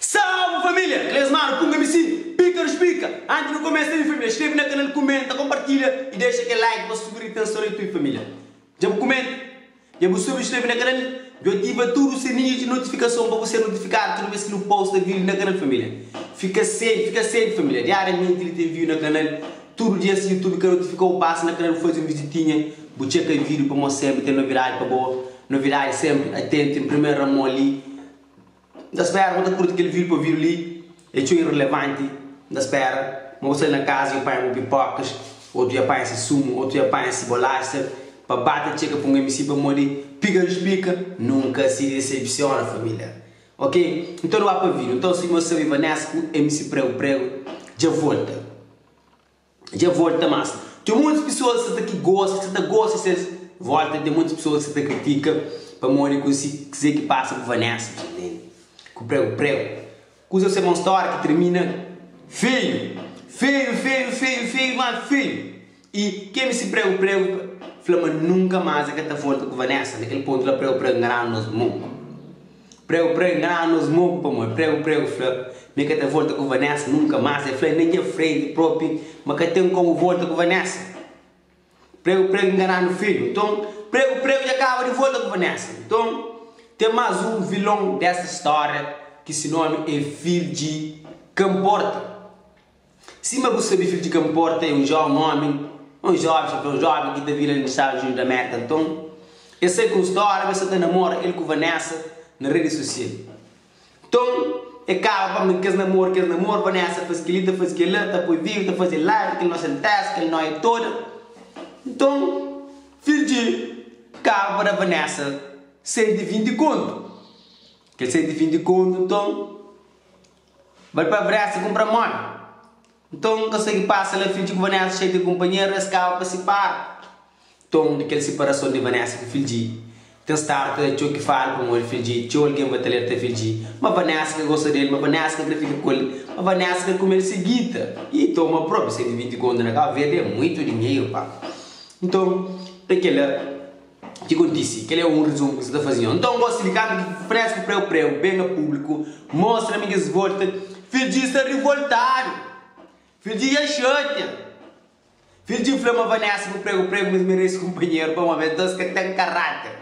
Salve família! Klesmar pun ka mi si píkaru splika. Antis nu kumesa li família, skrebe na kanal, kumenta, konpartilha i dexa kel like pa subi ritenson di tudu família. Dja bu kumenta? Dja bu subi skrebe na kanal? Dja ativa tudu sininhu di notifikason pa bu ser notifikadu tudu bes ki nu posta vídiu na kanal família. Fika sienti, fika sienti família, diariamenti li ta enviu na kanal. Tudu dias si YouTube ka notifikau pasa na kanal fazi un vizitinha bu txeka e vidiu pamo senpri ten novidadi pa bo novidadi senpri atentu en primeru na mo li N ta spera bu ta kurti kel vidiu pa vidiu li e txeu irrelevanti N ta spera ma bu sai na kaza dja panha bu pipokas otu dja panha si sumu otu dja panha si bolaxa pa ba ta txeka pa un mc pamodi pika nu spika nunka si desepsiona familia. Ok N ta doá pa vida Nton si nhos sabe Vanessa ku MC Prego Prego dja volta Dja volta mas Ten mutus pisoas ki sa ta ki gosta ki sa ta gosta ses volta ten mutus pisoas ki sa ta kritika pamodi kunsi kuzê ki pasa ku Vanessa ta entende ku Prego Prego Kuzas é ma un stória ki tirmina feio Feio feio feio feio mas feio. I kemi si pregu pregu pa fla ma nunka mas e ka ta volta ku vanessa na kel pontu la pregu pregu ngaranu nos moku pregu pregu ngaranu nos moku pamodi pregu pregu fla ma e ka ta volta ku vanessa nunka mas e fla inda nha frenti propi ma ka ten komu volta ku vanessa pregu pregu ngaranu fidju nton pregu pregu dja kaba di volta ku vanessa nton ten mas un vilon desta storia ki si nomi e fidji ka nporta. Sima bu sabe, fidju, ka nporta é un jóven ómi ô un jóven xópia, un jóven ki ta vive la na Stadu Djunidu di Amérika. Nton, el sai ku un stória ma el sta ta namora el ku Vanessa na redi sosial. Nton, el kaba pâpia na kes namoru, kes namoru, Vanessa ta faze kel-li, ta faze kel-la, ta poi vídiu, ta faze live, kel noxa el testa, kel nóia toda. Nton, fidju, el kaba pa da Vanessa senti vinti kontu. Kel senti vinti kontu, nton. Bal pa Vrésia kunpra modi? Nton, N ka sta ki pasa la. Fidji ku Vanessa xatia kunpanheru, es kaba pa sipara. Nton, di kel siparason di Vanessa ku Fidji, ten stadu ta atxou ki fada pamodi Fidji. Txeu algen ba ta alerta Fidji ma Vanessa ka gosta di el, ma Vanessa ka krê fika ku el, ma Vanessa krê kume el sigita. I toma probi, 120 kontu na Kabu Verdi é muitu dinheru, pa. Nton, pa kela, Ki kontisi? Kel-li é un rizumu ki sa ta faze nhos. Nton, gosi di kantu ki Fresku Preu Preu ben na públiku, mostra mi kes volta Fil Dji sta rivoltadu. Fil Dji dja xatia. Fil Dji fla ma Vanessa ku Pregu Pregu ma es merese kunpanheru pamodi es dôs ka ten karáter.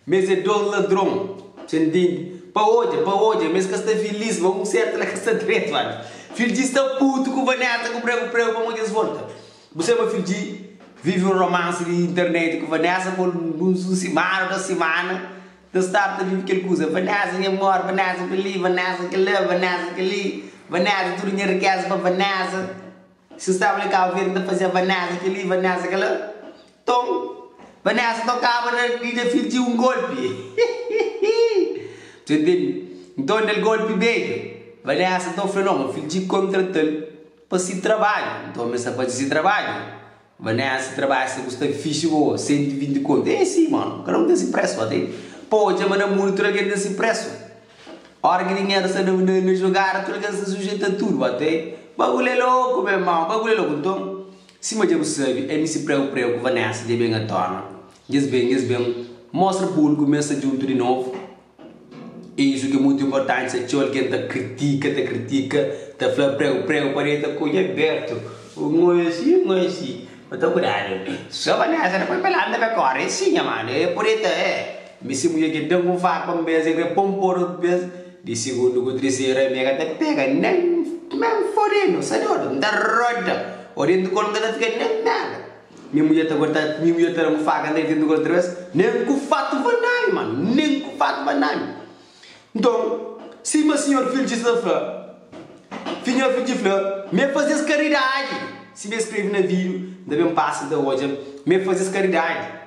Ma es é dôs ladron. Ses ntende? Pa odja, pa odja, ma es ka sta filís, ma un sértu la ka sta dretu antis. Fil Dji sta putu ku Vanessa ku Pregu Pregu pamodi es volta. Bu seba fidji vivi un romance di internet ku Vanessa pa alguns un simana dos simana ta start ta vivi kel kusa Vanessa nha amor Vanessa pa li Vanessa ka la Vanessa ka li Vanessa tudu nha rikeza pa Vanessa si staba li Cabo Verde ta fazia Vanessa ke li Vanessa ka la ton Vanessa to kaba na di na fidji un golpi tu entende nton del golpi beja Vanessa ta ofre no ma fidji kontratal Pa si trabadju. Nton mi sta fazi si trabadju. Vanessa, Si trabadju sta kusta ki fixi bo? Sentu i vinti kontu. E si, mon. Kada un ten si presu. Ba ten. Pa odja ma na mundu tudu algen ten si presu. Ora ki dinheru sta na na na jogada, tudu algen sta sujetu a tudu. Ba ten. Bagulhu e loku, me irmon. Bagulhu e loku. Nton, sima dja bu sabi, ami si preu preu ku Vanessa dja ben atona. Nhas ben, nhas ben mostra publiku ma es sta djuntu di novu. Isu ki é mutu inportanti, sa txeu algen ta kritika, ta kritika, ta fla preu, preu, padi el ta konxe Alberto, o ngo é si, ngo é si, ma ta kudadu, so Vanessa ta poi pelandu na be kóra, é si nha mano, é podi ta é, mi si mudjer ki da-m un farpa un bes, el krê po-m fora otu bes, di sigundu ku triseru ami ka ta pega nen, nen fodedu, sa dodu, n ta roda, o dentu kólu n ka ta fika nen nada, Nha mulher ta guarda nha mulher ta dame faca andei dentro do quarto outra vez nem ku fato va name mano nem ku fato va name nton sima senhor filtchi sa ta fla finhor filtchi fla me fazes caridade si be escreve na video nda ben passa nta odja me fazes caridade.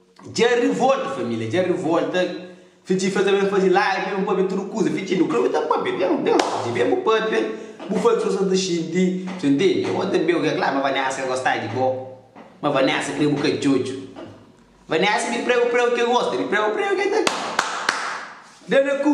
Dja rivolta família dja rivolta fitxi fla ta ben fazi live ben pâpia tudu kuza fitxi nu kla-u ta pâpia ben ben fitxi ben bu pâpia bu faze tudu sa ta xinti so intendi amo tanbe u ka kla ma vanessa ka gosta di bo ma vanessa kre bu ka djodju vanessa di preu preu ke gosta di preu preu ke ta da na ku.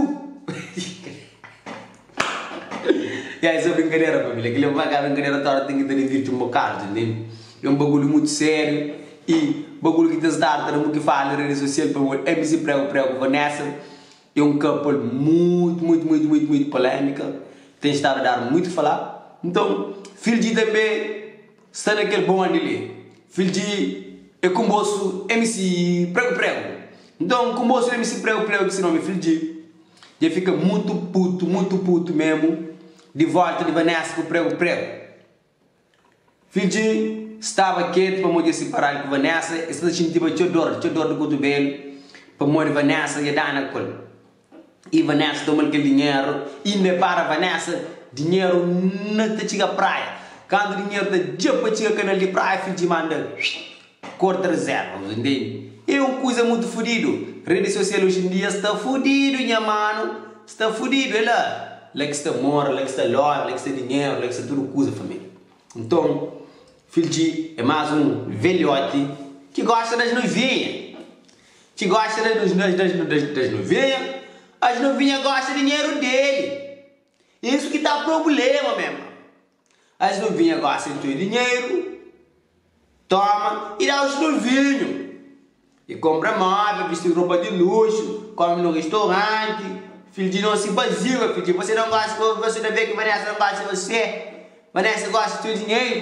Ya es é brinkadera família, kel-li é pa ka brinkadera tora ten ki ta divirti un bokadu ta intende, é un bagulhu mutu sériu y bagulhu ki ta start ta da mutu fala na redi sosial pamodi MC Prego Prego Vanessa é un couple mutu mutu mutu mutu mutu polémika ten stadu a dar mutu fala, nton Fil G tanbe sta na kel bonde li, Fil G é kunbosu MC Prego Prego, nton kunbosu di MC Prego Prego ki se nomi é Fil G. Dja fika mutu putu, mutu putu memu di vólta di Vanessa ku pregu pregu. Fidji staba ketu pamodi es siparadu ku Vanessa, es sta ta xintiba txeu dor, txeu dor di kutubelu pamodi Vanessa dja dana ku el. I Vanessa toma-l kel dinheru i inda el para Vanessa dinheru na ta txiga praia. Kantu dinheru ta dja pa txiga kanal di praia, Fidji manda-l Korta rizerva, bu ta ntende? É un kuza mutu fudidu. Redi sosial oji en dia sta fudidu, nha manu. Sta fudidu, é la. La ki sta amor, la ki sta love, la ki sta dinheru, la ki sta tudu kuza, família. Nton, Filchi é más un velhoti ki gosta das noivinha. Ki gosta das das das das das das noivinha. As noivinha gosta dinheru dele. É isu ki ta problema, me irman. Es nu vinha gósi di tudu dinheru, toma, i da oxi tudu vinhu. E konpra móvel, bisti ropa di luxu, kome no restoranti. Fidju di nosi baziba, fidju, bose da gósi pa bose ta ben ki Vanessa ta gósi di bose? Vanessa gósi di tudu dinheru.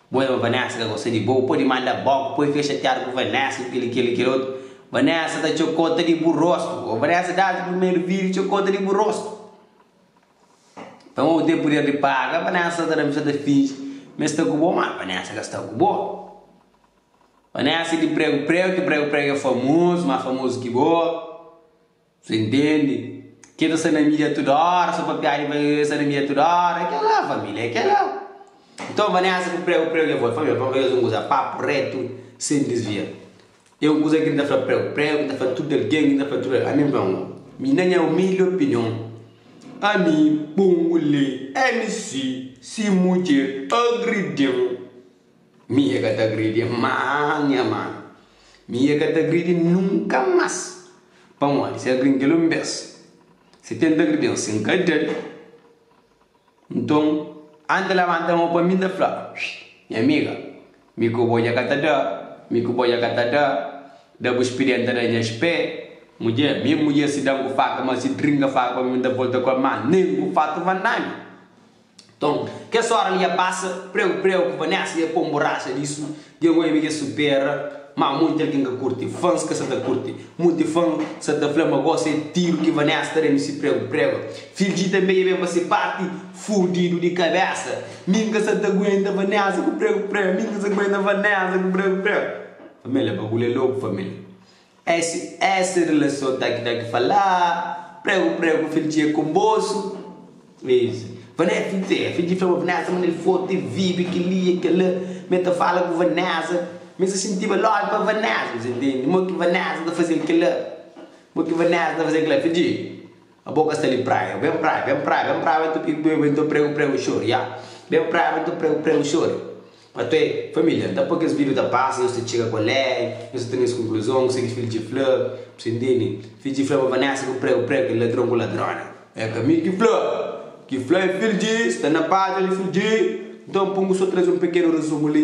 Bom ema Vanessa ka gosta di bo pode manda bo ku poi fica chateado ku Vanessa ku kili kili kil otu Vanessa ta txeu konta di bu rosto oh Vanessa dado primeiro vídeo txeu konta di bu rosto pa ma bu tem poder di paga Vanessa ta dame sa ta fingi ma esta ku bo ma Vanessa ka sta ku bo Vanessa di prego prego ki prego prego é famoso ma famoso ki bo. Sa intendi ke ta sa na midia tudu ora so pa piada e pa e sa na midia tudu ora e kel la familia e kel la. Nton Vanessa ku preu preu levou e familia pa un vez un kuza papu retu sen disvia e un kuza ke n ta fla preu preu ke n ta fla tudu algen ke n ta fla tudu ami nfla un mi na nha umildi opinion ami punguli mc si mudjer agridi-m. Mi e ka ta agridi el má, nha má. Mi e ka ta agridi nunka más. Pamodi, si el agrindi-l un bês, si tenta agridi-m, si N ka da-l, nton, antis el labanta mô pa mi, N ta fla, Xii, nha amiga, mi ku bo dja ka ta da, mi ku bo dja ka ta da, da bus pidi N ta da nhas pé. Mudjé, mi mudjé, si da-m ku faka, má si trinka faka pa mi, N ta volta ku el, má nen ku fatu vandami. Nton, kes óra li ia pasa pregu-pregu ku Vanessa ia pô un borraxa lisu di agoia mi ki é supera. Má monti algen ka kurti. Fans ka sa ta kurti. Monti fan sa ta fla ma gosi é tiru ki Vanessa ta da-nu si pregu-pregu. Filgi tanbê ia ben pa se párti fudidu di kabésa. Mi N ka sa ta aguenta Vanessa ku pregu-pregu. Mi N ka sa ta aguenta Vanessa ku pregu-pregu. Família, bagulhu é lóku, família. Esi esi rilason ta ki ta ki falá Pregu pregu fil txê ku bosu Esi Vané fil txê fil di fla ma Vanesa ma nel forti el vibi ki li e kela Me ta fala ku Vanesa Mi sa sintiba lóju pa Vanesa Mi sa intendi mo ki Vanesa ta fazel kela Mo ki Vanesa ta fazel kela Fil txê. Abo ka sta li praia Ben praia Ben praia Ben praia Ben ta pigi pui Ben ta pregu pregu xori ya Ben praia Ben ta pregu pregu xori Pa toi familia Nta pa kes video ta pasa Nhos ta txiga kolé Nhos ta ten es konkluzon Ku se ki fil dje fla Pa se ntindi Fil dje fla pa Vanessa Ku pregu pregu kel ladron ku ladrona É ka mi ki fla Ki fla é fil dje Sta na pátria li fil dje Nton pungu so traze un pekenu rezumi li.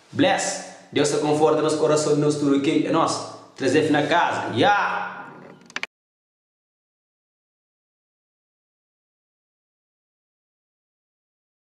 Bless! Deus ta konforta nos korason nos tudo ok é nos trazef na casa yeah!